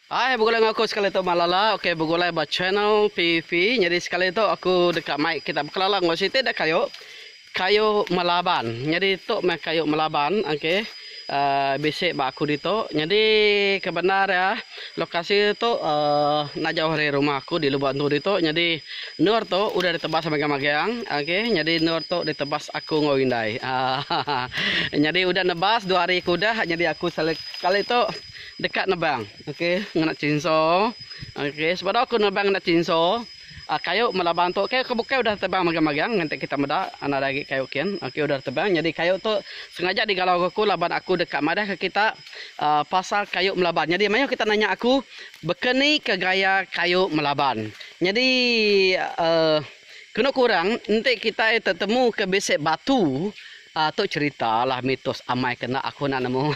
Hai begulai enggau aku sekali tu Malala ok begulai ba channel PV nyadi sekali tu aku deka mai kita bekelala enggau siti da kayu kayu melaban nyadi tu meh kayu melaban ok uhh bisi ba aku ditu nyadi kebendar iya lokasi iya tu uhh enda jauh ari rumah aku di lubok entu ditu nyadi endur tu udah ditebas magang magang ok nyadi endur tu ditebas aku enggau indai ahaha nyadi udah nebas dua hari ke udah nyadi aku sekali tu. deka nebang okey ngena chainsaw okey sebedau aku nebang ngena chainsaw a kayu melabang tu ke bukai udah tebang magang-magang ngagai kita meda nadai agi kayu kin okey udah tebang nyadi kayu tu sengaja digalau ga aku laban aku deka madah ka kita a pasal kayu melaban nyadi mayuh kita nanya aku baka ni ka gaya kayu melaban nyadi a kenu kurang enti kitai tetemu ka bisi batu A tu cerita lah mitos amai ke enda aku enda nemu.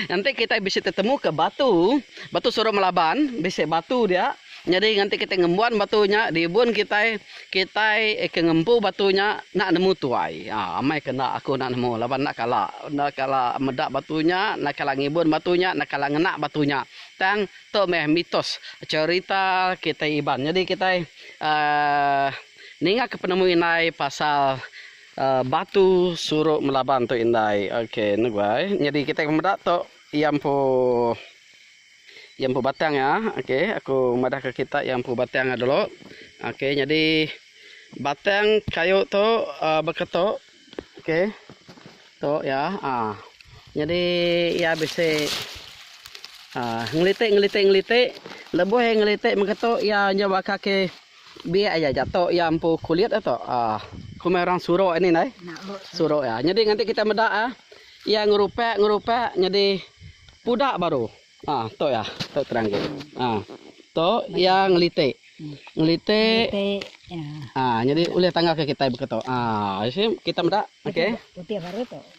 Nganti kitai bisi tetemuka batu, batu surup melaban, bisi batu dia. Nyadi nganti kitai ngembuan batu nya di ibun kitai, kitai ke ngempu batu nya enda nemu tuai. A amai ke enda aku enda nemu laban enda kala, enda kala meda batu nya, enda kala ngibun batu nya, enda kala ngena batu nya. Tang tu meh mitos cerita kitai Iban. Nyadi kitai a ningaka penemu indai pasal. Batu suruk melaban tu indai. Ok nugai nyadi kitai ke meda tu iya empu iya empu batang iya ok aku madah ke kitai iya empu batang iya dulu ok nyadi batang kayu tu baka tu ok tu iya aaa nyadi iya bisi aaa ngelitik ngelitik ngelitik lebuh iya ngelitik mega tu iya nyau ba kaki. Biak aja jatok iya empu kulit a tok ah komai orang surok ini ndai surok iya nyadi nganti kita meda ah iya ngerupak ngerupak nyadi pudak baru ah tok iya tok terang gin ah tok iya ngelitik ngelitik ah nyadi ulih tangga ke kitai baka tok ah isi kita meda okey.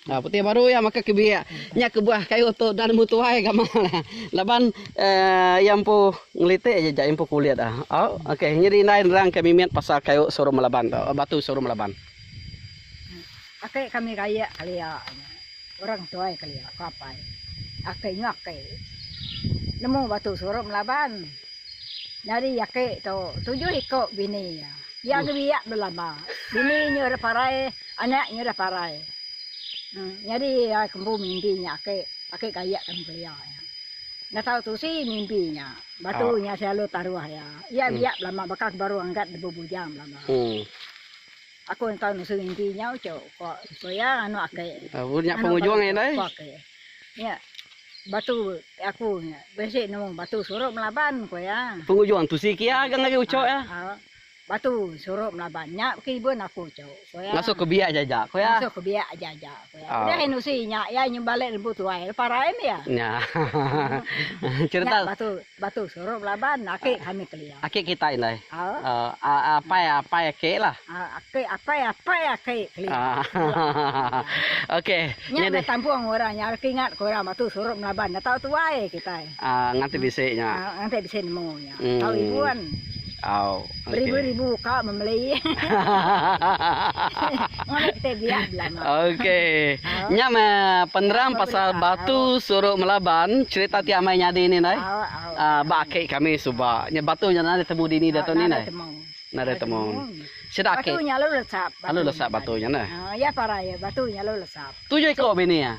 Putih baru iya makai ke biak. Nya kebuah kayu tu enda nemu tuai gamal iya. Laban iya empu ngelitik aja ja iya empu kulit iya. Ok nyadi indai nerangka mimit pasal kayu suruh melaban tu, batu suruh melaban. Aki kami rayak kelia nya. Orang tuai kelia ke apai. Aki nya aki nemu batu suruh melaban. Nyadi aki tu tujuh iko bini iya. Iya ngebiak belama. Bini nya ira parai. Anak nya dah parai. Nyadi iya ke empu mimpi nya ake ake gayak ke nuklia iya. Enda tau tusi mimpi nya. Batu nya selalu taruh iya. Iya biak belama baka ke baru angkat lebuh bujang belama. Aku enda tau nusi mimpi nya uchu ko ko iya anu ake. Anu batu ko ake. Nya batu aku nya bisi nemu batu surup melaban ko iya. Pengujung tusi ke iya agang ari uchu iya. Batu surup melaban. Nya baka ibun aku cu. Ku iya. Ngasuh ke biak aja-aja. Ku iya. Ngasuh ke biak aja-aja. Ku iya. Udah ai nusi nya iya nyembalik lembu tuai lepa rai meh iya. Nya. Cerita. Nya batu batu surup melaban aki kami kelia. Aki kitai indai. Aaa. Apai apai aki lah. Aki apai apai aki kelia. Okey. Nya dah tampung orang nya reti ingat ke orang batu surup melaban dah tau tuai kitai. Aaa nganti bisi nya. Nganti bisi nemu nya. Tau ribuan. Beribu-ribu ka memelei. Ngambi kitai biak belama. Okey. Nya meh penerang pasal batu suru melaban cherita ti amai nyadi ni ndai. Ba aki kami suba. Nya batu nya nadai temu dini diatu ni ndai. Nadai temu. Sida aki. Batu nya lalu lesap. Lalu lesap batu nya neh. Iya parai batu nya lalu lesap. Tujuh iko bini iya.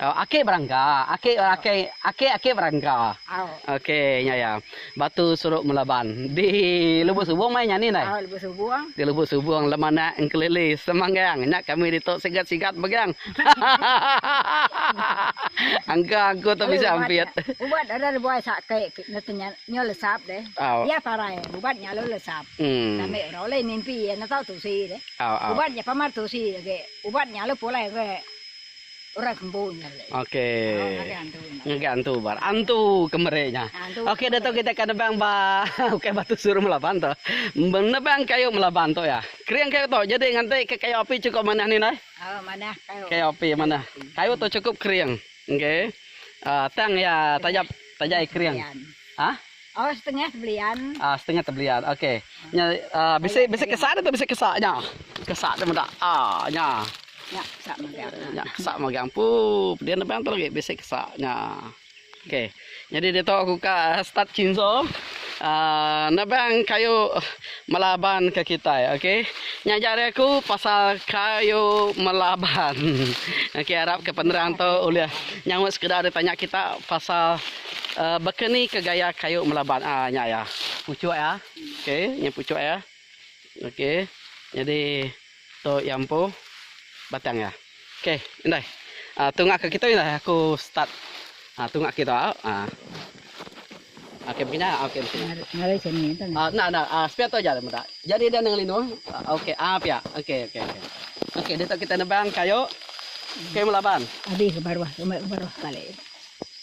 Akik berangga, akik akik akik akik berangga. Okey nya ya. Batu suruk melaban di Lubuk Subong mai nyani ndai? Au Lubuk Subong. Di Lubuk Subong lem anak engkelili semanggang. Nya kami ditu sigat-sigat megang. Angka aku tu bisa ampit. Ubat ada lebuai sakit ke nete nya nyo lesap deh. Au. Iya parai ubat nya lalu lesap. Hmm. Kami ora ulih mimpi iya neta tusi deh. Au au. Ubat nya pamar tusi age. Ubat nya lalu pulai age. Orang kembu nya leh. Okey. Ngagai antu ba. Antu kemeri nya. Okey diatu kita akan nebang ba ukai batu suru melaban tu. Menebang kayu melaban tu ya. Kering kayu tu jadi nganti ke kayu api cukup manah ni indai? Oh manah kayu. Kayu api manah. Kayu tu cukup kering. Okey. Tang iya taja taja iya kering. Ha? Oh setengah tebelian. Ah setengah tebelian. Okey. Nya uh, bisi bisi kesak tu bisi kesak nya. Kesak tu meda. Ah nya. Nya kesak magang. Nya kesak magang. Pu pedian depan tu lagi bisi kesak nya. Okey. Jadi dia tu aku ka start cinzo. Uh, nebang kayu melaban ke kita okey nya jari aku pasal kayu melaban okey harap ke penerang tu ulih nyaut sekeda ditanya kita pasal Bakani ke gaya kayu melaban a nya iya puchuk iya okay nya puchuk iya okay nyadi tu iya empu batang iya okay indai tu ngak ke kitu indai aku start tu ngak kitu au a okay mungkin nya okay mungkin nya enda enda sepia tu aja meda jadi dia enda ngelindu okay a pia okay okay okay ditu kita nebang kayu kayu melaban.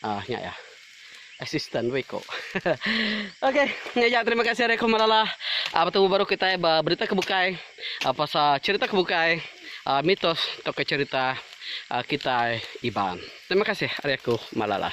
Ah nya iya. Assistant weh ko. ok nya iya terima kasih ari aku Malala ah betemu baru kitai ba berita ke bukai ah pasal cerita ke bukai ah mitos tauka cerita ah kitai Iban. Terima kasih ari aku Malala.